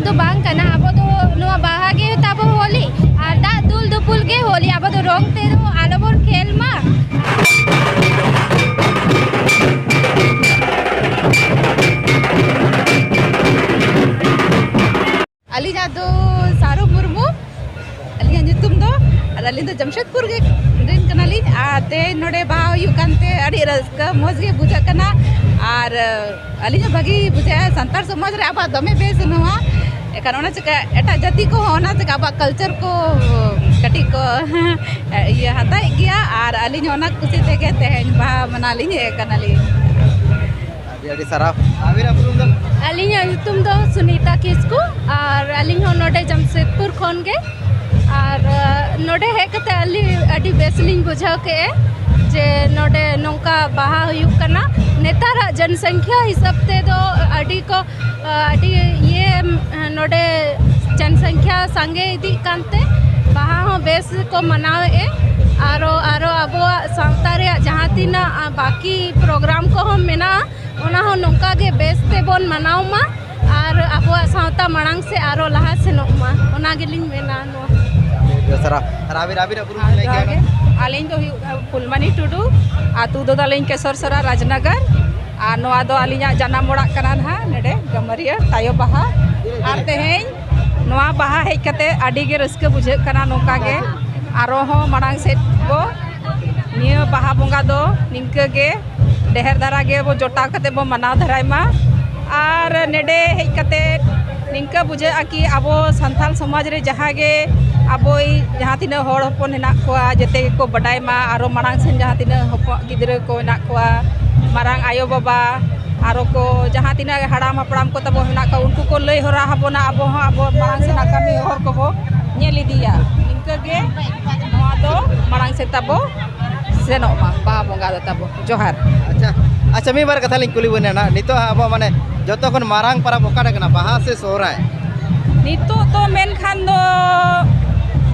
ᱫᱚ ᱵᱟᱝ ᱠᱟᱱᱟ ᱟᱵᱚ ᱫᱚ ᱱᱚᱣᱟ ᱵᱟᱦᱟ ᱜᱮ ᱛᱟᱵᱚ ᱦᱳᱞᱤ ᱟᱨ ᱫᱟᱜ ᱫᱩᱞ ᱫᱩᱯᱩᱞ ᱜᱮ ᱦᱳᱞᱤ ᱟᱵᱚ ᱫᱚ ᱨᱚᱝ ᱛᱮ ᱫᱚ ᱟᱞᱚ ᱵᱚᱱ ᱠᱷᱮᱞ ᱢᱟ ᱟᱹᱞᱤᱧᱟᱜ ᱫᱚ ᱥᱟᱨᱚ ᱢᱩᱨᱢᱩ ᱟᱹᱞᱤᱧᱟᱜ ᱧᱩᱛᱩᱢ ᱫᱚ ᱟᱨ ᱟᱹᱞᱤᱧ ᱫᱚ ᱡᱟᱢᱥᱮᱫᱽᱯᱩᱨ ᱜᱮ ᱨᱮᱱ ᱠᱟᱱᱟᱞᱤᱧ ᱟᱨ ᱛᱮᱦᱮᱧ ᱱᱚᱰᱮ ᱵᱟᱦᱟ ᱦᱩᱭᱩᱜ ᱠᱟᱱᱛᱮ ᱟᱹᱰᱤ ᱨᱟᱹᱥᱠᱟᱹ ᱢᱚᱡᱽ ᱜᱮ ᱵᱩᱡᱷᱟᱹᱜ ᱠᱟᱱᱟ ᱟᱨ ᱟᱹᱞᱤᱧ ᱦᱚᱸ ᱵᱷᱟᱹᱜᱤ ᱵᱩᱡᱷᱟᱹᱜᱼᱟ ᱥᱟᱱᱛᱟᱲ ᱥᱚᱢᱟᱡᱽ ᱨᱮ ᱟᱵᱚᱣᱟᱜ ᱫᱚᱢᱮ ᱵᱮᱥ ᱱᱚᱣᱟ ᱮᱱᱠᱷᱟᱱ ᱚᱱᱟ ᱪᱤᱠᱟᱹ ᱮᱴᱟᱜ ᱡᱟᱹᱛᱤ ᱠᱚᱦᱚᱸ ᱚᱱᱟ ᱪᱤᱠᱟᱹ ᱟᱵᱚᱣᱟᱜ ᱠᱟᱞᱪᱟᱨ ᱠᱚ ᱠᱟᱹᱴᱤᱡ ᱠᱚ ᱤᱭᱟᱹ ᱦᱟᱛᱟᱣᱮᱫ ᱜᱮᱭᱟ ᱟᱨ ᱟᱹᱞᱤᱧ ᱦᱚᱸ ᱚᱱᱟ ᱠᱩᱥᱤ ᱛᱮᱜᱮ ᱛᱮᱦᱮᱧ ᱵᱟᱦᱟ ᱢᱟᱱᱟᱣ ᱞᱤᱧ ᱦᱮᱡ ᱠᱟᱱᱟᱞᱤᱧ ᱟᱹᱰᱤ ᱥᱟᱨᱦᱟᱣ ᱟᱵᱤᱱᱟᱜ ᱩᱯᱨᱩᱢ ᱫᱚ ᱟᱹᱞᱤᱧᱟᱜ ᱧᱩᱛᱩᱢ ᱫᱚ ᱥᱩᱱᱤᱛᱟ ᱠᱤᱥᱠᱩ ᱟᱨ ᱟᱹᱞᱤᱧ ᱦᱚᱸ ᱱᱚᱰᱮ ᱡᱟᱢᱥᱮᱫᱽᱯᱩᱨ ᱠᱷᱚᱱ ᱜᱮ ᱟᱨ ᱱᱚᱰᱮ ᱦᱮᱡ ᱠᱟᱛᱮ ᱟᱹᱞᱤᱧ ᱟᱹᱰᱤ ᱵᱮᱥ ᱞᱤᱧ ᱵᱩᱡᱷᱟᱹᱣ ᱠᱮᱜᱼᱟ ᱡᱮ ᱱᱚᱰᱮ ᱱᱚᱝᱠᱟ ᱵᱟᱦᱟ ᱦᱩᱭᱩᱜ ᱠᱟᱱᱟ ᱱᱮᱛᱟᱨᱟᱜ ᱡᱚᱱᱥᱚᱝᱠᱷᱭᱟ ᱦᱤᱥᱟᱹᱵ ᱛᱮᱫᱚ ᱟᱹᱰᱤ ᱠᱚ ᱟᱹᱰᱤ ᱤᱭᱟᱹ ᱱᱚᱰᱮ ᱡᱚᱱᱥᱚᱝᱠᱷᱭᱟ ᱥᱟᱸᱜᱮ ᱤᱫᱤᱜ ᱠᱟᱱᱛᱮ ᱵᱟᱦᱟ ᱦᱚᱸ ᱵᱮᱥ ᱠᱚ ᱢᱟᱱᱟᱣᱮᱜᱼᱟ ᱟᱨᱚ ᱟᱨᱚ ᱟᱵᱚᱣᱟᱜ ᱥᱟᱶᱛᱟ ᱨᱮᱭᱟᱜ ᱡᱟᱦᱟᱸ ᱛᱤᱱᱟᱹᱜ ᱵᱟᱹᱠᱤ ᱯᱨᱳᱜᱨᱟᱢ ᱠᱚᱦᱚᱸ ᱢᱮᱱᱟᱜᱼᱟ ᱚᱱᱟ ᱦᱚᱸ ᱱᱚᱝᱠᱟ ᱜᱮ ᱵᱮᱥ ᱛᱮᱵᱚᱱ ᱢᱟᱱᱟᱣ ᱢᱟ ᱟᱨ ᱟᱵᱚᱣᱟᱜ ᱥᱟᱶᱛᱟ ᱢᱟᱲᱟᱝ ᱥᱮ ᱟᱨᱚ ᱞᱟᱦᱟ ᱥᱮᱱᱚᱜ ᱢᱟ ᱚᱱᱟ ᱜᱮᱞᱤᱧ ᱢᱮᱱᱟ ᱱᱚᱣᱟ ᱟᱹᱞᱤᱧ ᱫᱚ ᱦᱩᱭᱩᱜ ᱯᱷᱩᱞᱢᱟᱱᱤ ᱴᱩᱰᱩ ᱟᱛᱳ ᱫᱚ ᱛᱟᱹᱞᱤᱧ ᱠᱮᱥᱚᱨ ᱥᱚᱨᱟ ᱨᱟᱡᱽᱱᱟᱜᱟᱨ ᱟᱨ ᱱᱚᱣᱟ ᱫᱚ ᱟᱹᱞᱤᱧᱟᱜ ᱡᱟᱱᱟᱢ ᱚᱲᱟᱜ ᱠᱟᱱᱟ ᱱᱟᱦᱟᱜ ᱱᱚᱰᱮ ᱜᱟᱹᱢᱟᱹᱨᱤᱭᱟᱹ ᱛᱟᱭᱚ ᱵᱟᱦᱟ ᱟᱨ ᱛᱮᱦᱮᱧ ᱱᱚᱣᱟ ᱵᱟᱦᱟ ᱦᱮᱡ ᱠᱟᱛᱮ ᱟᱹᱰᱤ ᱜᱮ ᱨᱟᱹᱥᱠᱟᱹ ᱵᱩᱡᱷᱟᱹᱜ ᱠᱟᱱᱟ ᱱᱚᱝᱠᱟ ᱜᱮ ᱟᱨᱚ ᱦᱚᱸ ᱢᱟᱲᱟᱝ ᱥᱮᱫ ᱵᱚ ᱱᱤᱭᱟᱹ ᱵᱟᱦᱟ ᱵᱚᱸᱜᱟ ᱫᱚ ᱱᱤᱝᱠᱟᱹ ᱜᱮ ᱰᱮᱦᱮᱨ ᱫᱷᱟᱨᱟ ᱜᱮ ᱵᱚ ᱡᱚᱴᱟᱣ ᱠᱟᱛᱮ ᱵᱚ ᱢᱟᱱᱟᱣ ᱫᱷᱟᱨᱟᱭ ᱢᱟ ᱟᱨ ᱱᱮᱰᱮ ᱦᱮᱡ ᱠᱟᱛᱮ ᱱᱤᱝᱠᱟᱹ ᱵᱩᱡᱷᱟᱹᱜᱼᱟ ᱠᱤ ᱟᱵᱚ ᱥᱟᱱᱛᱟᱲ ᱥᱚᱢᱟᱡᱽ ᱨᱮ ᱡᱟᱦᱟᱸ ᱜᱮ ᱟᱵᱚᱭᱤᱡ ᱡᱟᱦᱟᱸ ᱛᱤᱱᱟᱹᱜ ᱦᱚᱲ ᱦᱚᱯᱚᱱ ᱦᱮᱱᱟᱜ ᱠᱚᱣᱟ ᱡᱮᱛᱮ ᱜᱮᱠᱚ ᱵᱟᱰᱟᱭ ᱢᱟ ᱟᱨᱚ ᱢᱟᱲᱟᱝ ᱥᱮᱱ ᱡᱟᱦᱟᱸ ᱛᱤᱱᱟᱹᱜ ᱦᱚᱯᱚᱱ ᱜᱤᱫᱽᱨᱟᱹ ᱠᱚ ᱦᱮᱱᱟᱜ ᱠᱚᱣᱟ ᱢᱟᱨᱟᱝ ᱟᱭᱳ ᱵᱟᱵᱟ ᱟᱨᱚ ᱠᱚ ᱡᱟᱦᱟᱸ ᱛᱤᱱᱟᱹᱜ ᱦᱟᱲᱟᱢ ᱦᱟᱯᱲᱟᱢ ᱠᱚ ᱛᱟᱵᱚ ᱦᱮᱱᱟᱜ ᱠᱚᱣᱟ ᱩᱱᱠᱩ ᱠᱚ ᱞᱟᱹᱭ ᱦᱚᱨᱟ ᱟᱵᱚᱱᱟ ᱟᱵᱚ ᱦᱚᱸ ᱟᱵᱚ ᱢᱟᱲᱟᱝ ᱥᱮᱱᱟᱜ ᱠᱟᱹᱢᱤ ᱦᱚᱨ ᱠᱚᱵᱚ ᱧᱮᱞ ᱤᱫᱤᱭᱟ ᱱᱤᱝᱠᱟᱹ ᱜᱮ ᱜᱮ ᱱᱚᱣᱟ ᱫᱚ ᱢᱟᱲᱟᱝ ᱥᱮᱫ ᱛᱟᱵᱚ ᱥᱮᱱᱚᱜ ᱢᱟ ᱵᱟᱦᱟ ᱵᱚᱸᱜᱟ ᱫᱚ ᱛᱟᱵᱚ ᱡᱚᱦᱟᱨ ᱟᱪᱪᱷᱟ ᱟᱪᱪᱷᱟ ᱢᱤᱫ ᱵᱟᱨ ᱠᱟᱛᱷᱟ ᱞᱤᱧ ᱠᱩᱞᱤ ᱵᱮᱱᱟ ᱱᱟᱦᱟᱜ ᱱᱤᱛᱚᱜ ᱦᱟᱸᱜ ᱟᱵᱚ ᱢᱟᱱᱮ ᱡᱚᱛᱚ ᱠᱷᱚᱱ ᱢᱟᱨᱟᱝ ᱯᱚᱨᱚᱵᱽ ᱚᱠᱟᱴᱟᱜ ᱠᱟᱱᱟ ᱵᱟᱦᱟ ᱥᱮ ᱥᱚᱦᱨᱟᱭ ᱱᱤᱛᱚᱜ ᱫᱚ ᱢᱮᱱᱠᱷᱟᱱ ᱫᱚ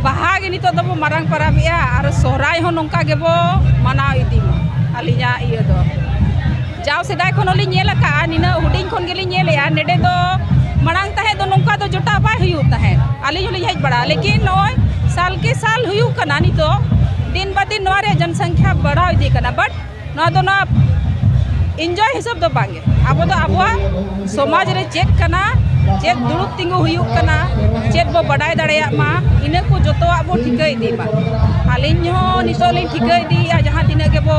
ᱵᱟᱦᱟ ᱜᱮ ᱱᱤᱛᱚᱜ ᱫᱚᱵᱚ ᱢᱟᱨᱟᱝ ᱯᱚᱨᱚᱵᱮᱜᱼᱟ ᱟᱨ ᱥᱚᱦᱨᱟᱭ ᱦᱚᱸ ᱱᱚᱝᱠᱟ ᱜᱮᱵᱚ ᱢᱟᱱᱟᱣ ᱤᱫᱤ ᱢᱟ ᱟᱹᱞᱤᱧᱟᱜ ᱤᱭᱟᱹ ᱫᱚ ᱡᱟᱣ ᱥᱮᱫᱟᱭ ᱠᱷᱚᱱ ᱦᱚᱸᱞᱤᱧ ᱧᱮᱞ ᱟᱠᱟᱫᱼᱟ ᱱᱤᱱᱟᱹᱜ ᱦᱩᱰᱤᱧ ᱠᱷᱚᱱ ᱜᱮᱞᱤᱧ ᱧᱮᱞᱮᱫᱼᱟ ᱱᱚᱰᱮ ᱫᱚ ᱢᱟᱲᱟᱝ ᱛᱟᱦᱮᱸᱫ ᱫᱚ ᱱᱚᱝᱠᱟ ᱫᱚ ᱡᱚᱴᱟᱣ ᱵᱟᱭ ᱦᱩᱭᱩᱜ ᱛᱟᱦᱮᱸᱫ ᱟᱹᱞᱤᱧ ᱦᱚᱸᱞᱤᱧ ᱦᱮᱡ ᱵᱟᱲᱟᱜᱼᱟ ᱞᱮᱠᱤᱱ ᱱᱚᱜᱼᱚᱭ ᱥᱟᱞ ᱠᱮ ᱥᱟᱞ ᱦᱩᱭᱩᱜ ᱠᱟᱱᱟ ᱱᱤᱛᱚᱜ ᱫᱤᱱ ᱵᱟ ᱫᱤᱱ ᱱᱚᱣᱟ ᱨᱮᱭᱟᱜ ᱡᱚᱱᱥᱚᱝᱠᱷᱭᱟ ᱵᱟᱲᱦᱟᱣ ᱤᱫᱤᱜ ᱠᱟᱱᱟ ᱵᱟᱴ ᱱᱚᱣᱟ ᱫᱚ ᱱᱚᱣᱟ ᱤᱱᱡᱚᱭ ᱦᱤᱥᱟᱹᱵ ᱫᱚ ᱵᱟᱝᱜᱮ ᱟᱵᱚ ᱫᱚ ᱟᱵᱚᱣᱟᱜ ᱥᱚᱢᱟᱡᱽ ᱨᱮ ᱪᱮᱫ ᱠᱟᱱᱟ ᱪᱮᱫ ᱫᱩᱲᱩᱵ ᱛᱤᱸᱜᱩ ᱦᱩᱭᱩᱜ ᱠᱟᱱᱟ ᱪᱮᱫ ᱵᱚ ᱵᱟᱰᱟᱭ ᱫᱟᱲᱮᱭᱟᱜ ᱢᱟ ᱤᱱᱟᱹ ᱠᱚ ᱡᱚᱛᱚᱣᱟᱜ ᱵᱚ ᱴᱷᱤᱠᱟᱹ ᱤᱫᱤ ᱢᱟ ᱟᱹᱞᱤᱧ ᱦᱚᱸ ᱱᱤᱛᱚᱜ ᱞᱤᱧ ᱴᱷᱤᱠᱟᱹ ᱤᱫᱤᱭᱮᱫᱼᱟ ᱡᱟᱦᱟᱸ ᱛᱤᱱᱟᱹᱜ ᱜᱮᱵᱚ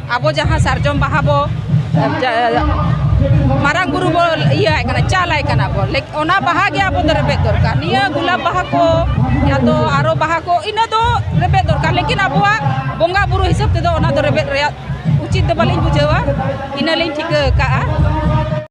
ᱟᱵᱚ ᱡᱟᱦᱟᱸ ᱥᱟᱨᱡᱚᱢ ᱵᱟᱦᱟ ᱵᱚ ᱢᱟᱨᱟᱝ ᱵᱩᱨᱩ ᱵᱚ ᱤᱭᱟᱹ ᱟᱭ ᱠᱟᱱᱟ ᱪᱟᱞ ᱟᱭ ᱠᱟᱱᱟ ᱵᱚ ᱚᱱᱟ ᱵᱟᱦᱟ ᱜᱮ ᱟᱵᱚ ᱫᱚ ᱨᱮᱵᱮᱫ ᱫᱚᱨᱠᱟᱨ ᱱᱤᱭᱟᱹ ᱜᱩᱞᱟᱵ ᱵᱟᱦᱟ ᱠᱚ ᱭᱟ ᱛᱚ ᱟᱨᱚ ᱵᱟᱦᱟ ᱠᱚ ᱤᱱᱟᱹ ᱫᱚ ᱨᱮᱵᱮᱫ ᱫᱚᱨᱠᱟᱨ ᱞᱮᱠᱤᱱ ᱟᱵᱚᱣᱟᱜ ᱵᱚᱸᱜᱟ ᱵᱩᱨᱩ ᱦᱤᱥᱟᱹᱵ ᱛᱮᱫᱚ ᱚᱱᱟ ᱫᱚ ᱨᱮᱵᱮᱫ ᱨᱮᱭᱟᱜ ᱩᱪᱤᱛ ᱫᱚ ᱵᱟᱹᱞᱤᱧ ᱵᱩᱡᱷᱟᱹᱣᱟ ᱤᱱᱟᱹ ᱞᱤᱧ ᱴᱷᱤᱠᱟᱹ ᱟᱠᱟᱫᱼᱟ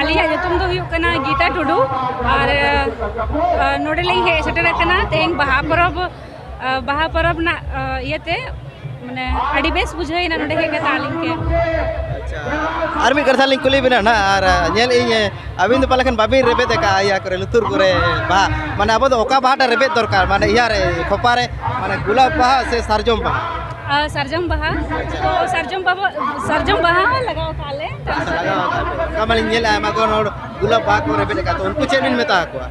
ᱟᱹᱞᱤᱧᱟᱜ ᱧᱩᱛᱩᱢ ᱫᱚ ᱦᱩᱭᱩᱜ ᱠᱟᱱᱟ ᱜᱤᱛᱟ ᱴᱩᱰᱩ ᱟᱨ ᱱᱚᱰᱮᱞᱤᱧ ᱦᱮᱡ ᱥᱮᱴᱮᱨ ᱟᱠᱟᱱᱟ ᱛᱮᱦᱮᱧ ᱵᱟᱦᱟ ᱯᱚᱨᱚᱵᱽ ᱵᱟᱦᱟ ᱯᱚᱨᱚᱵᱽ ᱨᱮᱱᱟᱜ ᱤᱭᱟᱹᱛᱮ ᱢᱟᱱᱮ ᱟᱹᱰᱤ ᱵᱮᱥ ᱵᱩᱡᱷᱟᱹᱣᱮᱱᱟ ᱱᱚᱰᱮ ᱦᱮᱡ ᱠᱟᱛᱮ ᱟᱹᱞᱤᱧ ᱜᱮ ᱟᱨ ᱢᱤᱫ ᱠᱟᱛᱷᱟ ᱞᱤᱧ ᱠᱩᱞᱤ ᱵᱮᱱᱟ ᱱᱟ ᱟᱨ ᱧᱮᱞ ᱤᱧ ᱟᱹᱵᱤᱱ ᱫᱚ ᱯᱟᱞᱮ ᱠᱷᱟᱱ ᱵᱟᱵᱤᱱ ᱨᱮᱵᱮᱫ ᱟᱠᱟᱫᱼᱟ ᱤᱭᱟᱹ ᱠᱚᱨᱮ ᱞᱩᱛᱩᱨ ᱠᱚᱨᱮ ᱵᱟᱦᱟ ᱢᱟᱱᱮ ᱟᱵᱚ ᱫᱚ ᱚᱠᱟ ᱵᱟᱦᱟᱴᱟ ᱨᱮᱵᱮᱫ ᱫᱚᱨᱠᱟᱨ ᱢᱟᱱᱮ ᱤᱭᱟᱹ ᱨᱮ ᱠᱷᱚᱯᱟ ᱨᱮ ᱢᱟᱱᱮ ᱜᱩᱞᱟᱵ ᱵᱟᱦᱟ ᱥᱮ ᱥᱟᱨᱡᱚᱢ ᱵᱟᱦᱟ ᱥᱟᱨᱡᱚᱢ ᱵᱟᱦᱟ ᱛᱚ ᱥᱟᱨᱡᱚᱢ ᱵᱟᱵᱟ ᱥᱟᱨᱡᱚᱢ ᱵᱟᱦᱟ ᱞᱟᱜᱟᱣ ᱠᱟᱜᱼᱟ ᱞᱮ ᱞᱟᱜᱟᱣ ᱠᱟᱜᱼᱟ ᱞᱮ ᱚᱱᱠᱟ ᱢᱟᱞᱤᱧ ᱧᱮᱞᱮᱫᱼᱟ ᱟᱭᱢᱟ ᱜᱟᱱ ᱦᱚᱲ ᱜᱩᱞᱟᱵ ᱵᱟᱦᱟ ᱠᱚ ᱨᱮᱵᱮᱫ ᱟᱠᱟᱫ ᱩᱱᱠᱩ ᱪᱮᱫ ᱵᱤᱱ ᱢᱮᱛᱟ ᱠᱚᱣᱟ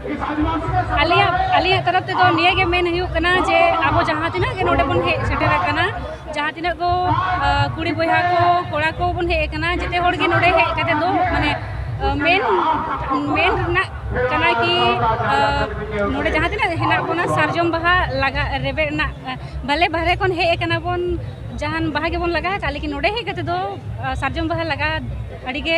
ᱟᱞᱮᱭᱟᱜ ᱟᱞᱮᱭᱟᱜ ᱛᱚᱨᱚᱯ ᱛᱮᱫᱚ ᱱᱤᱭᱟᱹ ᱜᱮ ᱢᱮᱱ ᱦᱩᱭᱩᱜ ᱠᱟᱱᱟ ᱡᱮ ᱟᱵᱚ ᱡᱟᱦᱟᱸ ᱛᱤᱱᱟᱹᱜ ᱜᱮ ᱱᱚᱰᱮ ᱵᱚᱱ ᱦᱮᱡ ᱥᱮᱴᱮᱨ ᱟᱠᱟᱱᱟ ᱡᱟᱦᱟᱸ ᱛᱤᱱᱟᱹᱜ ᱠᱚ ᱠᱩᱲᱤ ᱵᱚᱭᱦᱟ ᱠᱚ ᱠᱚᱲᱟ ᱠᱚ ᱵᱚᱱ ᱦᱮᱡ ᱟᱠᱟᱱᱟ ᱡᱮᱛᱮ ᱦᱚᱲ ᱜᱮ ᱱᱚᱰᱮ ᱦᱮᱡ ᱠᱟᱛᱮ ᱫᱚ ᱢᱟᱱᱮ ᱢᱮᱱ ᱢᱮᱱ ᱨᱮᱱᱟᱜ ᱠᱟᱱᱟ ᱠᱤ ᱱᱚᱰᱮ ᱡᱟᱦᱟᱸ ᱛᱤᱱᱟᱹᱜ ᱦᱮᱱᱟᱜ ᱵᱚᱱᱟ ᱥᱟᱨᱡᱚᱢ ᱵᱟᱦᱟ ᱞᱟᱜᱟ ᱨᱮᱵᱮᱫ ᱨᱮᱱᱟᱜ ᱵᱷᱟᱞᱮ ᱵᱟᱦᱨᱮ ᱠᱷᱚᱱ ᱦᱮᱡ ᱟᱠᱟᱱᱟ ᱵᱚᱱ ᱡᱟᱦᱟᱱ ᱵᱟᱦᱟ ᱜᱮᱵᱚᱱ ᱞᱟᱜᱟᱣ ᱟᱠᱟᱫ ᱞᱮᱠᱤᱱ ᱱᱚᱰᱮ ᱦᱮᱡ ᱠᱟᱛᱮ ᱫᱚ ᱥᱟᱨᱡᱚᱢ ᱵᱟᱦᱟ ᱞᱟᱜᱟᱣ ᱟᱹᱰᱤ ᱜᱮ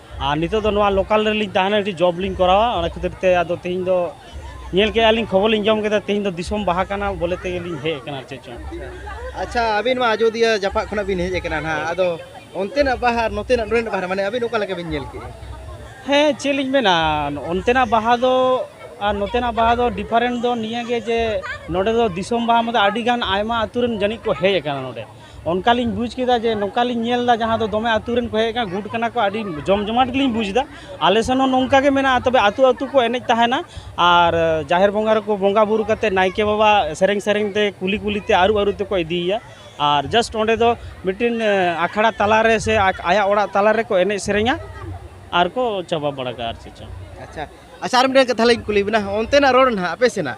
ᱟᱨ ᱱᱤᱛᱚᱜ ᱫᱚ ᱱᱚᱣᱟ ᱞᱳᱠᱟᱞ ᱨᱮᱞᱤᱧ ᱛᱟᱦᱮᱱᱟ ᱢᱤᱫᱴᱤᱡ ᱡᱚᱵᱽ ᱞᱤᱧ ᱠᱚᱨᱟᱣᱟ ᱚᱱᱟ ᱠᱷᱟᱹᱛᱤᱨ ᱛᱮ ᱟᱫᱚ ᱛᱮᱦᱮᱧ ᱫᱚ ᱧᱮᱞ ᱠᱮᱜᱼᱟ ᱞᱤᱧ ᱠᱷᱚᱵᱚᱨ ᱞᱤᱧ ᱡᱚᱢ ᱠᱮᱫᱟ ᱛᱮᱦᱮᱧ ᱫᱚ ᱫᱤᱥᱚᱢ ᱵᱟᱦᱟ ᱠᱟᱱᱟ ᱵᱚᱞᱮ ᱛᱮᱜᱮ ᱞᱤᱧ ᱦᱮᱡ ᱟᱠᱟᱱᱟ ᱟᱨ ᱪᱮᱫ ᱪᱚᱝ ᱟᱪᱪᱷᱟ ᱟᱹᱵᱤᱱ ᱢᱟ ᱟᱡᱚᱫᱤᱭᱟᱹ ᱡᱟᱯᱟᱜ ᱠᱷᱚᱱᱟᱜ ᱵᱤᱱ ᱦᱮᱡ ᱟᱠᱟᱱᱟ ᱱᱟᱦᱟᱜ ᱟᱫᱚ ᱚᱱᱛᱮᱱᱟᱜ ᱵᱟᱦᱟ ᱟᱨ ᱱᱚᱛᱮᱱᱟᱜ ᱱᱚᱰᱮᱱᱟᱜ ᱵᱟᱦᱟ ᱢᱟᱱᱮ ᱟᱹᱵᱤᱱ ᱚᱠᱟ ᱞᱮᱠᱟ ᱵᱤᱱ ᱧᱮᱞ ᱠᱮᱜᱼᱟ ᱦᱮᱸ ᱪᱮᱫ ᱞᱤᱧ ᱢᱮᱱᱟ ᱚᱱᱛᱮᱱᱟᱜ ᱵᱟᱦᱟ ᱫᱚ ᱟᱨ ᱱᱚᱛᱮᱱᱟᱜ ᱵᱟᱦᱟ ᱫᱚ ᱰᱤᱯᱷᱟᱨᱮᱱᱴ ᱫᱚ ᱱᱤᱭᱟᱹ ᱜᱮ ᱡᱮ ᱱᱚᱰᱮ ᱫᱚ ᱫᱤᱥᱚᱢ ᱵᱟᱦᱟ ᱢᱟᱱᱮ ᱟᱹᱰᱤ ᱜᱟᱱ ᱟᱭᱢᱟ ᱟᱹᱛᱩ ᱨᱮᱱ ᱡᱟᱹᱱᱤᱡ ᱠᱚ ᱦᱮᱡ ᱟᱠᱟᱱᱟ ᱱᱚᱰᱮ ᱚᱱᱠᱟ ᱞᱤᱧ ᱵᱩᱡᱽ ᱠᱮᱫᱟ ᱡᱮ ᱱᱚᱝᱠᱟ ᱞᱤᱧ ᱧᱮᱞ ᱮᱫᱟ ᱡᱟᱦᱟᱸ ᱫᱚ ᱫᱚᱢᱮ ᱟᱹᱛᱩ ᱨᱮᱱ ᱠᱚ ᱦᱮᱡ ᱟᱠᱟᱱᱟ ᱜᱩᱴ ᱠᱟᱱᱟ ᱠᱚ ᱟᱹᱰᱤ ᱡᱚᱢ ᱡᱚᱢᱟᱴ ᱜᱮᱞᱤᱧ ᱵᱩᱡᱽ ᱮᱫᱟ ᱟᱞᱮ ᱥᱮᱱ ᱦᱚᱸ ᱱᱚᱝᱠᱟ ᱜᱮ ᱢᱮᱱᱟᱜᱼᱟ ᱛᱚᱵᱮ ᱟᱹᱛᱩ ᱟᱹᱛᱩ ᱠᱚ ᱮᱱᱮᱡ ᱛᱟᱦᱮᱱᱟ ᱟᱨ ᱡᱟᱦᱮᱨ ᱵᱚᱸᱜᱟ ᱨᱮᱠᱚ ᱵᱚᱸᱜᱟ ᱵᱳᱨᱳ ᱠᱟᱛᱮᱫ ᱱᱟᱭᱠᱮ ᱵᱟᱵᱟ ᱥᱮᱨᱮᱧ ᱥᱮᱨᱮᱧ ᱛᱮ ᱠᱩᱞᱦᱤ ᱠᱩᱞᱦᱤ ᱛᱮ ᱟᱹᱨᱩᱵ ᱟᱹᱨᱩᱵ ᱛᱮᱠᱚ ᱤᱫᱤᱭᱮᱭᱟ ᱟᱨ ᱡᱟᱥᱴ ᱚᱸᱰᱮ ᱫᱚ ᱢᱤᱫᱴᱤᱱ ᱟᱠᱷᱲᱟ ᱛᱟᱞᱟ ᱨᱮ ᱥᱮ ᱟᱭᱟᱜ ᱚᱲᱟᱜ ᱛᱟᱞᱟ ᱨᱮᱠᱚ ᱮᱱᱮᱡ ᱥᱮᱨᱮᱧᱟ ᱟᱨ ᱠᱚ ᱪᱟᱵᱟ ᱵᱟᱲᱟ ᱠᱟᱜᱼᱟ ᱟᱨ ᱪᱮᱫ ᱪᱚᱝ ᱟᱪᱪᱷᱟ ᱟᱪᱪᱷᱟ ᱟᱨ ᱢᱤᱫᱴᱮᱱ ᱠᱟᱛᱷᱟ ᱞᱤᱧ ᱠᱩᱞᱤ ᱵᱮᱱᱟ ᱚᱱᱛᱮᱱᱟᱜ ᱨᱚᱲ ᱱᱟᱦᱟᱜ ᱟᱯᱮ ᱥᱮᱱᱟᱜ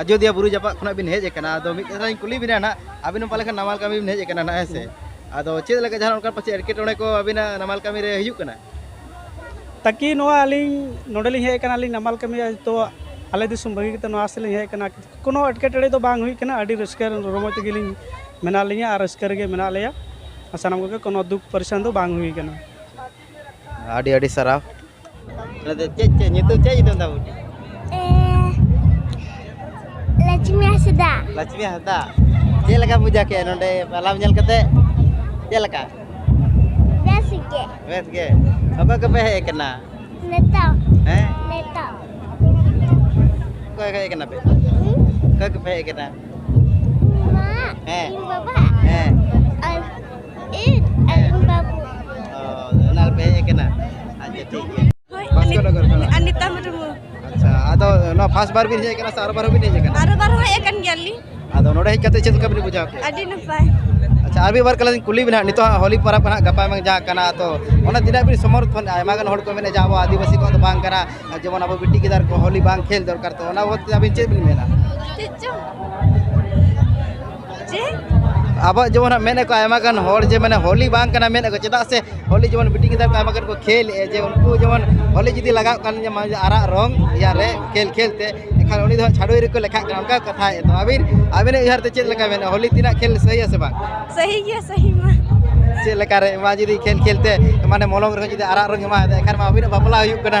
ᱟᱡᱚᱫᱤᱭᱟ ᱵᱩᱨᱩ ᱡᱟᱯᱟᱜ ᱠᱷᱚᱱᱟᱜ ᱵᱤᱱ ᱦᱮᱡ ᱟᱠᱟᱱᱟ ᱟᱫᱚ ᱢᱤᱫ ᱠᱟᱛᱷᱟᱧ ᱠᱩᱞᱤ ᱵᱤᱱᱟ ᱱᱟᱜ ᱟᱹᱵᱤᱱ ᱯᱟᱞᱮ ᱠᱷᱟᱱ ᱱᱟᱢᱟᱞ ᱠᱟᱹᱢᱤ ᱵᱤᱱ ᱦᱮᱡ ᱟᱠᱟᱱᱟ ᱱᱟᱜ ᱦᱮᱸᱥᱮ ᱟᱫᱚ ᱪᱮᱫ ᱞᱮᱠᱟ ᱡᱟᱦᱟᱸ ᱚᱱᱠᱟ ᱯᱟᱪᱮ ᱮᱴᱠᱮᱴᱚᱬᱮ ᱠᱚ ᱟᱹᱵᱤᱱᱟᱜ ᱱᱟᱢᱟᱞ ᱠᱟᱹᱢᱤ ᱨᱮ ᱦᱤᱡᱩᱜ ᱠᱟᱱᱟ ᱛᱟᱠᱤ ᱱᱚᱣᱟ ᱟᱹᱞᱤᱧ ᱱᱚᱰᱮ ᱞᱤᱧ ᱦᱮᱡ ᱟᱠᱟᱱᱟ ᱟᱹᱞᱤᱧ ᱱᱟᱢᱟᱞ ᱠᱟᱹᱢᱤ ᱛᱚ ᱟᱞᱮ ᱫᱤᱥᱚᱢ ᱵᱟᱹᱜᱤ ᱠᱟᱛᱮ ᱱᱚᱣᱟ ᱥᱮᱫ ᱞᱤᱧ ᱦᱮᱡ ᱟᱠᱟᱱᱟ ᱠᱳᱱᱳ ᱮᱴᱠᱮᱴᱚᱬᱮ ᱫᱚ ᱵᱟᱝ ᱦᱩᱭ ᱟᱠᱟᱱᱟ ᱟᱹᱰᱤ ᱨᱟᱹᱥᱠᱟᱹ ᱨᱚᱢᱚᱡᱽ ᱛᱮᱜᱮ ᱞᱤᱧ ᱢᱮᱱᱟᱜ ᱞᱤᱧᱟ ᱟᱨ ᱨᱟᱹᱥᱠᱟᱹ ᱨᱮᱜᱮ ᱢᱮᱱᱟᱜ ᱞᱮᱭᱟ ᱥᱟᱱᱟᱢ ᱠᱚᱜᱮ ᱠᱳᱱᱳ ᱫᱩᱠ ᱯᱚᱨᱮᱥᱟᱱ ᱫᱚ ᱵᱟᱝ ᱦᱩᱭ ᱟᱠᱟᱱᱟ ᱟᱹᱰᱤ ᱟᱹᱰᱤ ᱥᱟᱨᱦᱟᱣ ᱪᱮᱫ ᱪᱮᱫ ᱧᱩᱛᱩᱢ ᱪᱮᱫ ᱧᱩᱛᱩᱢ ᱛᱟᱢ ᱵᱩᱰᱤ ᱞᱟᱪᱢᱤ ᱦᱟᱸᱥᱫᱟ ᱞᱟᱪᱢᱤ ᱦᱟᱸᱥᱫᱟ ᱪᱮᱫ ᱞᱮᱠᱟ ᱯᱩᱡᱟ ᱠᱮᱫ ᱱᱚᱰᱮ ᱯᱟᱞᱟᱢ ᱧᱮᱞ ᱠᱟᱛᱮ ᱪᱮᱫ ᱞᱮᱠᱟ ᱵᱮᱥ ᱜᱮ ᱵᱮᱥ ᱜᱮ ᱚᱠᱚᱭ ᱠᱚᱯᱮ ᱦᱮᱡ ᱠᱟᱱᱟ ᱱᱮᱛᱟ ᱦᱮᱸ ᱱᱮᱛᱟ ᱚᱠᱚᱭ ᱦᱮᱡ ᱠᱟᱱᱟ ᱯᱮ ᱚᱠᱚᱭ ᱠᱚᱯᱮ ᱦᱮᱡ ᱠᱟᱱᱟ ᱢᱟ ᱦᱮᱸ ᱵᱟᱵᱟ ᱦᱮᱸ ᱯᱷᱟᱥᱴ ᱵᱟᱨ ᱵᱤᱱ ᱦᱮᱡ ᱠᱟᱱᱟ ᱥᱮ ᱟᱨ ᱵᱟᱨ ᱦᱚᱸᱵᱤᱱ ᱦᱮᱡ ᱠᱟᱱᱟ ᱟᱨ ᱵᱟᱨ ᱦᱚᱸ ᱦᱮᱡ ᱠᱟᱱ ᱜᱮᱭᱟᱞᱤᱧ ᱟᱫᱚ ᱱᱚᱰᱮ ᱦᱮᱡ ᱠᱟᱛᱮ ᱪᱮᱫ ᱞᱮᱠᱟ ᱵᱤᱱ ᱵᱩᱡᱷᱟᱹᱣ ᱠᱮᱫᱟ ᱟᱹᱰᱤ ᱱᱟᱯᱟᱭ ᱟᱪᱪᱷᱟ ᱟᱨ ᱢᱤᱫ ᱵᱟᱨ ᱠᱟᱞᱤᱧ ᱠᱩᱞᱤ ᱵᱤᱱ ᱦᱟᱸᱜ ᱱᱤᱛᱚᱜ ᱦᱚᱞᱤ ᱯᱟᱨᱟᱵᱽ ᱠᱟᱱᱟ ᱜᱟᱯᱟ ᱢᱮᱭᱟᱝ ᱡᱟᱦᱟᱸ ᱠᱟᱱᱟ ᱛᱚ ᱚᱱᱟ ᱛᱤᱱᱟᱹᱜ ᱵᱤᱱ ᱥᱚᱢᱚᱨᱛᱷᱚᱱ ᱟᱭᱢᱟ ᱜᱟᱱ ᱦᱚᱲ ᱠᱚ ᱢᱮᱱᱟ ᱡᱮ ᱟᱵᱚ ᱟᱹᱫᱤᱵᱟᱹᱥᱤ ᱠᱚᱣᱟᱜ ᱫᱚ ᱵᱟᱝ ᱠᱟᱱᱟ ᱡᱮᱢᱚᱱ ᱟᱵᱚ ᱵᱤᱴᱤ ᱜᱤᱫᱟᱹᱨ ᱠᱚ ᱦᱚᱞᱤ ᱵᱟᱝ ᱠᱷᱮᱞ ᱫᱚᱨᱠᱟᱨ ᱛᱚ ᱚᱱᱟ ᱵᱟᱵᱚᱫ ᱛᱮ ᱟᱹᱵᱤᱱ ᱪᱮᱫ ᱵᱤᱱ ᱢᱮᱱᱟ ᱪᱮᱫ ᱪᱚᱝ ᱟᱵᱚ ᱡᱮᱢᱚᱱ ᱢᱮᱱ ᱟᱠᱚ ᱟᱭᱢᱟ ᱜᱟᱱ ᱦᱚᱲ ᱡᱮ ᱢᱟᱱᱮ ᱦᱳᱞᱤ ᱵᱟᱝ ᱠᱟᱱᱟ ᱢᱮᱱ ᱟᱠᱚ ᱪᱮᱫᱟᱜ ᱥᱮ ᱦᱳᱞᱤ ᱡᱮᱢᱚᱱ ᱵᱤᱴᱤ ᱜᱤᱫᱟᱹᱨ ᱠᱚ ᱟᱭᱢᱟ ᱜᱟᱱ ᱠᱚ ᱠᱷᱮᱞ ᱮ ᱡᱮ ᱩᱱᱠᱩ ᱡᱮᱢᱚᱱ ᱦᱳᱞᱤ ᱡᱩᱫᱤ ᱞᱟᱜᱟᱜ ᱠᱟᱱ ᱡᱮᱢᱚᱱ ᱟᱨᱟᱜ ᱨᱚᱝ ᱤᱭᱟ ᱨᱮ ᱠᱷᱮᱞ ᱠᱷᱮᱞ ᱛᱮ ᱮᱱᱠᱷᱟᱱ ᱩᱱᱤ ᱫᱚ ᱪᱷᱟᱰᱩᱭ ᱨᱮᱠᱚ ᱞᱮᱠᱷᱟᱜ ᱠᱟᱱᱟ ᱚᱱᱠᱟ ᱠᱟᱛᱷᱟ ᱮ ᱛᱚ ᱟᱹᱵᱤᱱ ᱟᱹᱵᱤᱱ ᱩᱭᱦᱟᱹᱨ ᱛᱮ ᱪᱮᱫ ᱞᱮᱠᱟ ᱢᱮᱱᱟ ᱦᱳᱞᱤ ᱛᱤᱱᱟᱹᱜ ᱠᱷᱮᱞ ᱥᱟᱹᱦᱤ ᱥᱮ ᱵᱟᱝ ᱥᱟᱹᱦᱤ ᱜᱮᱭᱟ ᱥᱟᱹᱦᱤ ᱢᱟ ᱪᱮᱫ ᱞᱮᱠᱟ ᱨᱮ ᱢᱟ ᱡᱩᱫᱤ ᱠᱷᱮᱞ ᱠᱷᱮᱞ ᱛᱮ ᱢᱟᱱᱮ ᱢᱚᱞᱚᱝ ᱨᱮᱦᱚᱸ ᱡᱩᱫᱤ ᱟᱨᱟᱜ ᱨᱚᱝ ᱮᱢᱟᱭᱟ ᱮᱱᱠᱷᱟᱱ ᱢᱟ ᱟᱹᱵᱤᱱᱟᱜ ᱵᱟᱯᱞᱟ ᱦᱩᱭᱩᱜ ᱠᱟᱱᱟ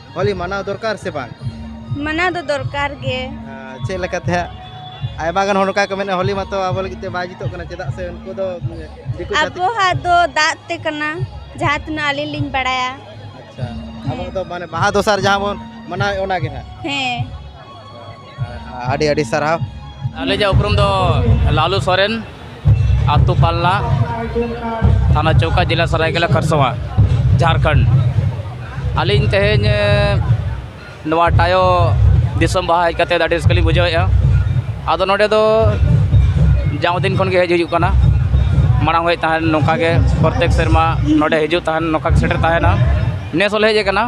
ᱦᱚᱞᱤ ᱢᱟᱱᱟᱣ ᱫᱚᱨᱠᱟᱨ ᱥᱮ ᱵᱟᱝ ᱢᱟᱱᱟᱣ ᱫᱚ ᱫᱚᱨᱠᱟᱨ ᱜᱮ ᱪᱮᱫ ᱞᱮᱠᱟᱛᱮ ᱦᱟᱸᱜ ᱟᱭᱢᱟ ᱜᱟᱱ ᱦᱚᱲ ᱚᱱᱠᱟ ᱠᱚ ᱢᱮᱱᱟ ᱦᱚᱞᱤ ᱢᱟᱛᱚ ᱟᱵᱚ ᱞᱟᱹᱜᱤᱫ ᱛᱮ ᱵᱟᱭ ᱡᱩᱛᱚᱜ ᱠᱟᱱᱟ ᱪᱮᱫᱟᱜ ᱥᱮ ᱩᱱᱠᱩ ᱫᱚ ᱫᱤᱠᱩ ᱡᱟᱹᱛᱤ ᱟᱵᱚᱣᱟᱜ ᱫᱚ ᱫᱟᱜ ᱛᱮ ᱠᱟᱱᱟ ᱡᱟᱦᱟᱸ ᱛᱤᱱᱟᱹᱜ ᱟᱹᱞᱤᱧ ᱞᱤᱧ ᱵᱟᱲᱟᱭᱟ ᱟᱪᱪᱷᱟ ᱟᱵᱚ ᱫᱚ ᱢᱟᱱᱮ ᱵᱟᱦᱟ ᱫᱚᱥᱟᱨ ᱡᱟᱦᱟᱸ ᱵᱚᱱ ᱢᱟᱱᱟᱣᱮᱫ ᱚᱱᱟᱜᱮ ᱦᱟᱸᱜ ᱦᱮᱸ ᱟᱹᱰᱤ ᱟᱹᱰᱤ ᱥᱟᱨᱦᱟᱣ ᱟᱹᱞᱤᱧᱟᱜ ᱩᱯᱨᱩᱢ ᱫᱚ ᱞᱟᱞᱩ ᱥᱚᱨᱮᱱ ᱟᱛᱳ ᱯᱟᱞᱱᱟ ᱛᱷᱟᱱᱟ ᱪᱚᱣᱠᱟ ᱡᱮᱞᱟ ᱥᱚᱨᱟᱭᱠᱮᱞᱟ ᱠᱷᱟᱨᱥᱚᱣᱟ ᱡᱷᱟᱲᱠᱷᱚᱸᱰ ᱟᱹᱞᱤᱧ ᱛᱮᱦᱮᱧ ᱱᱚᱣᱟ ᱴᱟᱭᱳ ᱫᱤᱥᱚᱢ ᱵᱟᱦᱟ ᱦᱮᱡ ᱠᱟᱛᱮᱫ ᱟᱹᱰᱤ ᱨᱟᱹᱥᱠᱟᱹ ᱞᱤᱧ ᱵᱩᱡᱷᱟᱹᱣᱮᱫᱼᱟ ᱟᱫᱚ ᱱᱚᱰᱮ ᱫᱚ ᱡᱟᱣ ᱫᱤᱱ ᱠᱷᱚᱱ ᱜᱮ ᱦᱮᱡ ᱦᱩᱭᱩᱜ ᱠᱟᱱᱟ ᱢᱟᱲᱟᱝ ᱦᱮᱡ ᱛᱟᱦᱮᱱ ᱱᱚᱝᱠᱟ ᱜᱮ ᱯᱨᱚᱛᱮᱠ ᱥᱮᱨᱢᱟ ᱱᱚᱰᱮ ᱦᱤᱡᱩᱜ ᱛᱟᱦᱮᱱ ᱱᱚᱝᱠᱟ ᱜᱮ ᱥᱮᱴᱮᱨ ᱛᱟᱦᱮᱱᱟ ᱱᱮᱥ ᱦᱚᱸᱞᱮ ᱦᱮᱡ ᱟᱠᱟᱱᱟ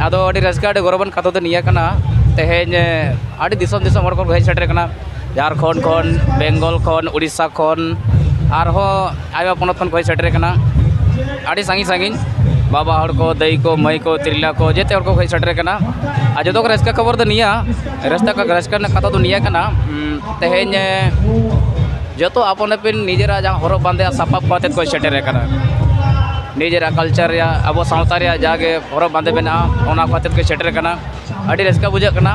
ᱟᱫᱚ ᱟᱹᱰᱤ ᱨᱟᱹᱥᱠᱟᱹ ᱟᱹᱰᱤ ᱜᱚᱨᱚᱵᱟᱱ ᱠᱟᱛᱷᱟ ᱫᱚ ᱱᱤᱭᱟᱹ ᱠᱟᱱᱟ ᱛᱮᱦᱮᱧ ᱟᱹᱰᱤ ᱫᱤᱥᱚᱢ ᱫᱤᱥᱚᱢ ᱦᱚᱲ ᱠᱚ ᱦᱮᱡ ᱥᱮᱴᱮᱨ ᱟᱠᱟᱱᱟ ᱡᱷᱟᱲᱠᱷᱚᱸᱰ ᱠᱷᱚᱱ ᱵᱮᱝᱜᱚᱞ ᱠᱷᱚᱱ ᱳᱰᱤᱥᱟ ᱠᱷᱚᱱ ᱟᱨᱦᱚᱸ ᱟᱭᱢᱟ ᱯᱚᱱᱚᱛ ᱠᱷᱚᱱ ᱠᱚ ᱦᱮᱡ ᱥᱮᱴᱮᱨ ᱟᱠᱟᱱᱟ ᱟᱹᱰᱤ ᱥᱟᱺᱜᱤᱧ ᱥᱟᱺᱜᱤᱧ ᱵᱟᱵᱟ ᱦᱚᱲ ᱠᱚ ᱫᱟᱹᱭ ᱠᱚ ᱢᱟᱹᱭ ᱠᱚ ᱛᱤᱨᱞᱟᱹ ᱠᱚ ᱡᱮᱛᱮ ᱦᱚᱲ ᱠᱚ ᱦᱮᱡ ᱥᱮᱴᱮᱨ ᱟᱠᱟᱱᱟ ᱟᱨ ᱡᱚᱛᱚ ᱠᱷᱚᱱ ᱨᱟᱹᱥᱠᱟᱹ ᱠᱷᱚᱵᱚᱨ ᱫᱚ ᱱᱤᱭᱟᱹ ᱨᱟᱹᱥᱠᱟᱹ ᱨᱟᱹᱥᱠᱟᱹ ᱨᱮᱱᱟᱜ ᱠᱟᱛᱷᱟ ᱫᱚ ᱱᱤᱭᱟᱹ ᱠᱟᱱᱟ ᱛᱮᱦᱮᱧ ᱡᱚᱛᱚ ᱟᱯᱚᱱ ᱟᱹᱯᱤᱱ ᱱᱤᱡᱮᱨᱟᱜ ᱡᱟᱦᱟᱸ ᱦᱚᱨᱚᱜ ᱵᱟᱸᱫᱮ ᱥᱟᱯᱟᱵ ᱠᱚ ᱟᱛᱮᱫ ᱠᱚ ᱥᱮᱴᱮᱨ ᱟᱠᱟᱱᱟ ᱱᱤᱡᱮᱨᱟᱜ ᱠᱟᱞᱪᱟᱨ ᱨᱮᱭᱟᱜ ᱟᱵᱚ ᱥᱟᱶᱛᱟ ᱨᱮᱭᱟᱜ ᱡᱟᱜᱮ ᱦᱚᱨᱚᱜ ᱵᱟᱸᱫᱮ ᱢᱮᱱᱟᱜᱼᱟ ᱚᱱᱟ ᱠᱚ ᱟᱛᱮᱫ ᱠᱚ ᱥᱮᱴᱮᱨ ᱟᱠᱟᱱᱟ ᱟᱹᱰᱤ ᱨᱟᱹᱥᱠᱟᱹ ᱵᱩᱡᱷᱟᱹᱜ ᱠᱟᱱᱟ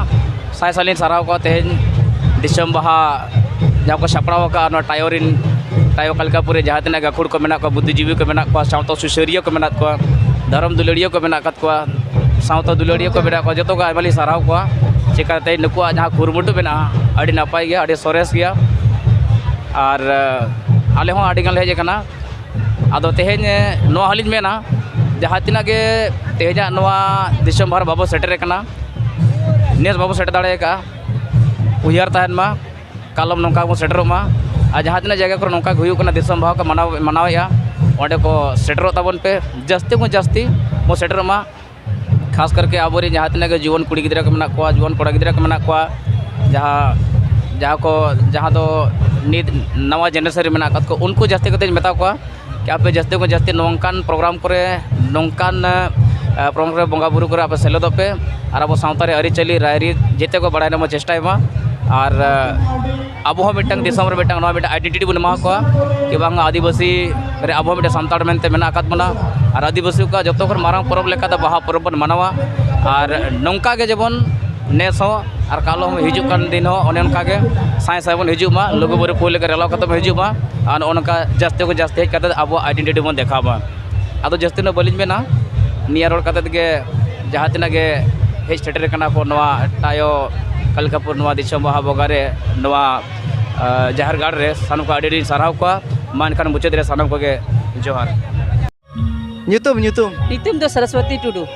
ᱥᱟᱭ ᱥᱟᱭ ᱞᱤᱧ ᱥᱟᱨᱦᱟᱣ ᱠᱚᱣᱟ ᱛᱮᱦᱮᱧ ᱫᱤᱥᱚᱢ ᱵᱟᱦᱟ ᱡᱟᱦᱟᱸ ᱠᱚ ᱥᱟᱯᱲᱟᱣ ᱟᱠᱟᱫᱼᱟ ᱱᱚᱣᱟ ᱴᱟᱭᱳ ᱨᱮᱱ ᱴᱟᱭᱳ ᱠᱟᱞᱠᱟᱯᱩᱨ ᱨᱮ ᱡᱟᱦᱟᱸ ᱛᱤᱱᱟᱹᱜ ᱜᱟᱹᱠᱷᱩᱲ ᱠᱚ ᱢᱮᱱᱟᱜ ᱠᱚᱣᱟ ᱵᱩᱫᱽᱫᱷᱤ ᱡᱤᱵᱤ ᱠᱚ ᱢᱮᱱᱟᱜ ᱠᱚᱣᱟ ᱥᱟᱶᱛᱟ ᱥᱩᱥᱟᱹᱨᱤᱭᱟᱹ ᱠᱚ ᱢᱮᱱᱟᱜ ᱠᱚᱣᱟ ᱫᱷᱚᱨᱚᱢ ᱫᱩᱞᱟᱹᱲᱤᱭᱟᱹ ᱠᱚ ᱢᱮᱱᱟᱜ ᱟᱠᱟᱫ ᱠᱚᱣᱟ ᱥᱟᱶᱛᱟ ᱫᱩᱞᱟᱹᱲᱤᱭᱟᱹ ᱠᱚ ᱢᱮᱱᱟᱜ ᱠᱚᱣᱟ ᱡᱚᱛᱚ ᱜᱮ ᱟᱭᱢᱟ ᱞᱤᱧ ᱥᱟᱨᱦᱟᱣ ᱠᱚᱣᱟ ᱪᱤᱠᱟᱹᱛᱮ ᱱᱩᱠᱩᱣᱟᱜ ᱡᱟᱦᱟᱸ ᱠᱩᱨᱩᱢᱩᱴᱩ ᱢᱮᱱᱟᱜᱼᱟ ᱟᱹᱰᱤ ᱱᱟᱯᱟᱭ ᱜᱮᱭᱟ ᱟᱹᱰᱤ ᱥᱚᱨᱮᱥ ᱜᱮᱭᱟ ᱟᱨ ᱟᱞᱮ ᱦᱚᱸ ᱟᱹᱰᱤ ᱜᱟᱱ ᱞᱮ ᱦᱮᱡ ᱟᱠᱟᱱᱟ ᱟᱫᱚ ᱛᱮᱦᱮᱧ ᱱᱚᱣᱟ ᱦᱚᱸᱞᱤᱧ ᱢᱮᱱᱟ ᱡᱟᱦᱟᱸ ᱛᱤᱱᱟᱹᱜ ᱜᱮ ᱛᱮᱦᱮᱧᱟᱜ ᱱᱚᱣᱟ ᱫᱤᱥᱚᱢ ᱵᱷᱟᱨ ᱵᱟᱵᱚ ᱥᱮᱴᱮᱨ ᱠᱟᱱᱟ ᱱᱮᱥ ᱵᱟᱵᱚ ᱥᱮᱴᱮᱨ ᱫᱟᱲᱮ ᱠᱟᱜᱼᱟ ᱩᱭᱦᱟᱹᱨ ᱛᱟᱦᱮᱱ ᱢᱟ ᱠᱟᱞᱚᱢ ᱱᱚᱝᱠᱟ ᱜᱮᱵᱚᱱ ᱥᱮᱴᱮᱨᱚᱜ ᱢᱟ ᱟᱨ ᱡᱟᱦᱟᱸ ᱛᱤᱱᱟᱹᱜ ᱡᱟᱭᱜᱟ ᱠᱚᱨᱮ ᱱᱚᱝᱠᱟ ᱜᱮ ᱦᱩᱭᱩᱜ ᱠᱟᱱᱟ ᱫᱤᱥᱚᱢ ᱵᱟᱦᱟ ᱠᱚ ᱢᱟᱱᱟᱣ ᱢᱟᱱᱟᱣᱮᱜᱼᱟ ᱚᱸᱰᱮ ᱠᱚ ᱥᱮᱴᱮᱨᱚᱜ ᱛᱟᱵᱚᱱ ᱯᱮ ᱡᱟᱹᱥᱛᱤ ᱠᱷᱚᱱ ᱡᱟᱹᱥᱛᱤ ᱵᱚᱱ ᱥᱮᱴᱮᱨᱚᱜ ᱢᱟ ᱠᱷᱟᱥ ᱠᱟᱨᱠᱮ ᱟᱵᱚ ᱨᱮᱱ ᱡᱟᱦᱟᱸ ᱛᱤᱱᱟᱹᱜ ᱜᱮ ᱡᱩᱣᱟᱹᱱ ᱠᱩᱲᱤ ᱜᱤᱫᱽᱨᱟᱹ ᱠᱚ ᱢᱮᱱᱟᱜ ᱠᱚᱣᱟ ᱡᱩᱣᱟᱹᱱ ᱠᱚᱲᱟ ᱜᱤᱫᱽᱨᱟᱹ ᱠᱚ ᱢᱮᱱᱟᱜ ᱠᱚᱣᱟ ᱡᱟᱦᱟᱸ ᱡᱟᱦᱟᱸ ᱠᱚ ᱡᱟᱦᱟᱸ ᱫᱚ ᱱᱤᱛ ᱱᱟᱣᱟ ᱡᱮᱱᱟᱨᱮᱥᱚᱱ ᱨᱮ ᱢᱮᱱᱟᱜ ᱠᱟᱜ ᱠᱚ ᱩᱱᱠᱩ ᱡᱟᱹᱥᱛᱤ ᱠᱟᱛᱮᱫ ᱢᱮᱛᱟ ᱠᱚᱣᱟ ᱠᱤ ᱟᱯᱮ ᱡᱟᱹᱥᱛᱤ ᱠᱷᱚᱱ ᱡᱟᱹᱥᱛᱤ ᱱᱚᱝᱠᱟᱱ ᱯᱨᱳᱜᱨᱟᱢ ᱠᱚᱨᱮ ᱱᱚᱝᱠᱟᱱ ᱯᱨᱳᱜᱨᱟᱢ ᱨᱮ ᱵᱚᱸᱜᱟᱼᱵᱩᱨᱩ ᱠᱚᱨᱮ ᱟᱯᱮ ᱥᱮᱞᱮᱫᱚᱜ ᱯᱮ ᱟᱨ ᱟᱵᱚ ᱥᱟᱶᱛᱟ ᱨᱮᱭᱟᱜ ᱟᱹᱨᱤᱪᱟᱹᱞᱤ ᱨᱟᱭᱨᱤᱛ ᱡᱮᱛᱮ ᱠᱚ ᱵᱟᱲᱟᱭ ᱨᱮᱱᱟᱜ ᱵᱚᱱ ᱪᱮᱥᱴᱟᱭ ᱢᱟ ᱟᱨ ᱟᱵᱚ ᱦᱚᱸ ᱢᱤᱫᱴᱟᱝ ᱫᱤᱥᱚᱢ ᱨᱮ ᱢᱤᱫᱴᱟᱝ ᱱᱚᱣᱟ ᱢᱤᱫᱴᱟᱝ ᱟᱭᱰᱮᱱᱴᱤᱴᱤ ᱵᱚᱱ ᱮᱢᱟ ᱠᱚᱣᱟ ᱠᱤ ᱵᱟᱝ ᱟᱹᱫᱤᱵᱟᱹᱥᱤ ᱨᱮ ᱟᱵᱚ ᱦᱚᱸ ᱢᱤᱫᱴᱟᱝ ᱥᱟᱱᱛᱟᱲ ᱢᱮᱱᱛᱮ ᱢᱮᱱᱟᱜ ᱟᱠᱟᱫ ᱵᱚᱱᱟ ᱟᱨ ᱟᱹᱫᱤᱵᱟᱹᱥᱤ ᱠᱚᱣᱟᱜ ᱡᱚᱛᱚ ᱠᱷᱚᱱ ᱢᱟᱨᱟᱝ ᱯᱚᱨᱚᱵᱽ ᱞᱮᱠᱟ ᱫᱚ ᱵᱟᱦᱟ ᱯᱚᱨᱚᱵᱽ ᱵᱚᱱ ᱢᱟᱱᱟᱣᱟ ᱟᱨ ᱱᱚᱝᱠᱟ ᱜᱮ ᱡᱮᱢᱚᱱ ᱱᱮᱥ ᱦᱚᱸ ᱟᱨ ᱠᱟᱞᱚᱢ ᱦᱚᱸ ᱦᱤᱡᱩᱜ ᱠᱟᱱ ᱫᱤᱱ ᱦᱚᱸ ᱚᱱᱮ ᱚᱱᱠᱟ ᱜᱮ ᱥᱟᱭ ᱥᱟᱭ ᱵᱚᱱ ᱦᱤᱡᱩᱜ ᱢᱟ ᱞᱩᱜᱩᱼᱵᱩᱨᱩ ᱯᱩᱨᱤ ᱞᱮᱠᱟ ᱨᱮᱞᱟ ᱠᱟᱛᱮᱫ ᱵᱚᱱ ᱦᱤᱡᱩᱜ ᱢᱟ ᱟᱨ ᱱᱚᱜᱼᱚ ᱱᱚᱝᱠᱟ ᱡᱟᱹᱥᱛᱤ ᱠᱷᱚᱱ ᱡᱟᱹᱥᱛᱤ ᱦᱮᱡ ᱠᱟᱛᱮᱫ ᱟᱵᱚᱣᱟᱜ ᱟᱭᱰᱮᱱᱴᱤᱴᱤ ᱵᱚᱱ ᱫᱮᱠᱷᱟᱣ ᱢᱟ ᱟᱫᱚ ᱡᱟᱹᱥᱛᱤ ᱫᱚ ᱵᱟᱹᱞᱤᱧ ᱢᱮᱱᱟ ᱱᱤᱭᱟᱹ ᱨᱚᱲ ᱠᱟᱛᱮᱫ ᱜᱮ ᱡᱟᱦᱟᱸ ᱛᱤᱱᱟᱹᱜ ᱜᱮ ᱦᱮᱡ ᱥᱮᱴᱮᱨ ᱠᱟᱱᱟ ᱠᱚ ᱱᱚᱣᱟ ᱴᱟᱭᱳ ᱠᱟᱞᱠᱟᱯᱩᱨ ᱱᱚᱣᱟ ᱫᱤᱥᱚᱢ ᱵᱟᱦᱟ ᱵᱚᱸᱜᱟ ᱨᱮ ᱱᱚᱣᱟ ᱡᱟᱦᱮᱨ ᱜᱟᱲ ᱨᱮ ᱥᱟᱱᱟᱢ ᱠᱚ ᱟᱹᱰᱤ ᱟᱹᱰᱤᱧ ᱥᱟᱨᱦᱟᱣ ᱠᱚᱣᱟ ᱢᱟ ᱮᱱᱠᱷᱟᱱ ᱢᱩᱪᱟᱹᱫ ᱨᱮ ᱥᱟᱱᱟᱢ ᱠᱚᱜᱮ ᱡᱚᱦᱟᱨ ᱧᱩᱛᱩᱢ ᱧᱩᱛᱩᱢ ᱧᱩᱛᱩᱢ ᱫᱚ ᱥᱚᱨᱚᱥᱚᱛᱤ ᱴᱩᱰᱩ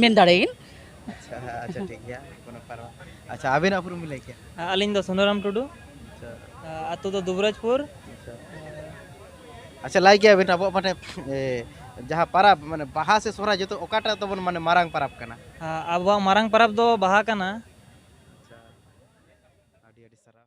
ᱢᱮᱱ ᱫᱟᱲᱮᱭᱟᱜ ᱟᱪᱪᱷᱟ ᱟᱪᱪᱷᱟ ᱴᱷᱤᱠ ᱜᱮᱭᱟ ᱠᱳᱱᱳ ᱯᱟᱨᱣᱟ ᱟᱪᱪᱷᱟ ᱟᱵᱮᱱᱟᱜ ᱩᱯᱨᱩᱢ ᱵᱤᱱ ᱞᱟᱹᱭ ᱠᱮᱭᱟ ᱟᱹᱞᱤᱧ ᱫᱚ ᱥᱩᱱᱫᱚᱨᱟᱢ ᱴᱩᱰᱩ ᱟᱪᱪᱷᱟ ᱟᱛᱳ ᱫᱚ ᱫᱩᱵᱨᱟᱡᱽᱯᱩᱨ ᱟᱪᱪᱷᱟ ᱟᱪᱪᱷᱟ ᱞᱟᱹᱭ ᱠᱮᱭᱟ ᱵᱮᱱ ᱟᱵᱚᱣᱟᱜ ᱢᱟᱱᱮ ᱡᱟᱦᱟᱸ ᱯᱟᱨᱟᱵᱽ ᱢᱟᱱᱮ ᱵᱟᱦᱟ ᱥᱮ ᱥᱚᱦᱨᱟᱭ ᱡᱚᱛᱚ ᱚᱠᱟᱴᱟᱜ ᱛᱟᱵᱚᱱ ᱢᱟᱱᱮ ᱢᱟᱨᱟᱝ ᱯᱟᱨᱟᱵᱽ ᱠᱟᱱᱟ ᱟᱵᱚᱣᱟᱜ ᱢᱟᱨᱟᱝ ᱯᱟᱨᱟᱵᱽ ᱫᱚ ᱵᱟᱦᱟ ᱠᱟᱱᱟ ᱟᱪᱪᱷᱟ ᱟᱹᱰᱤ ᱟᱹᱰᱤ ᱥᱟᱨᱦᱟᱣ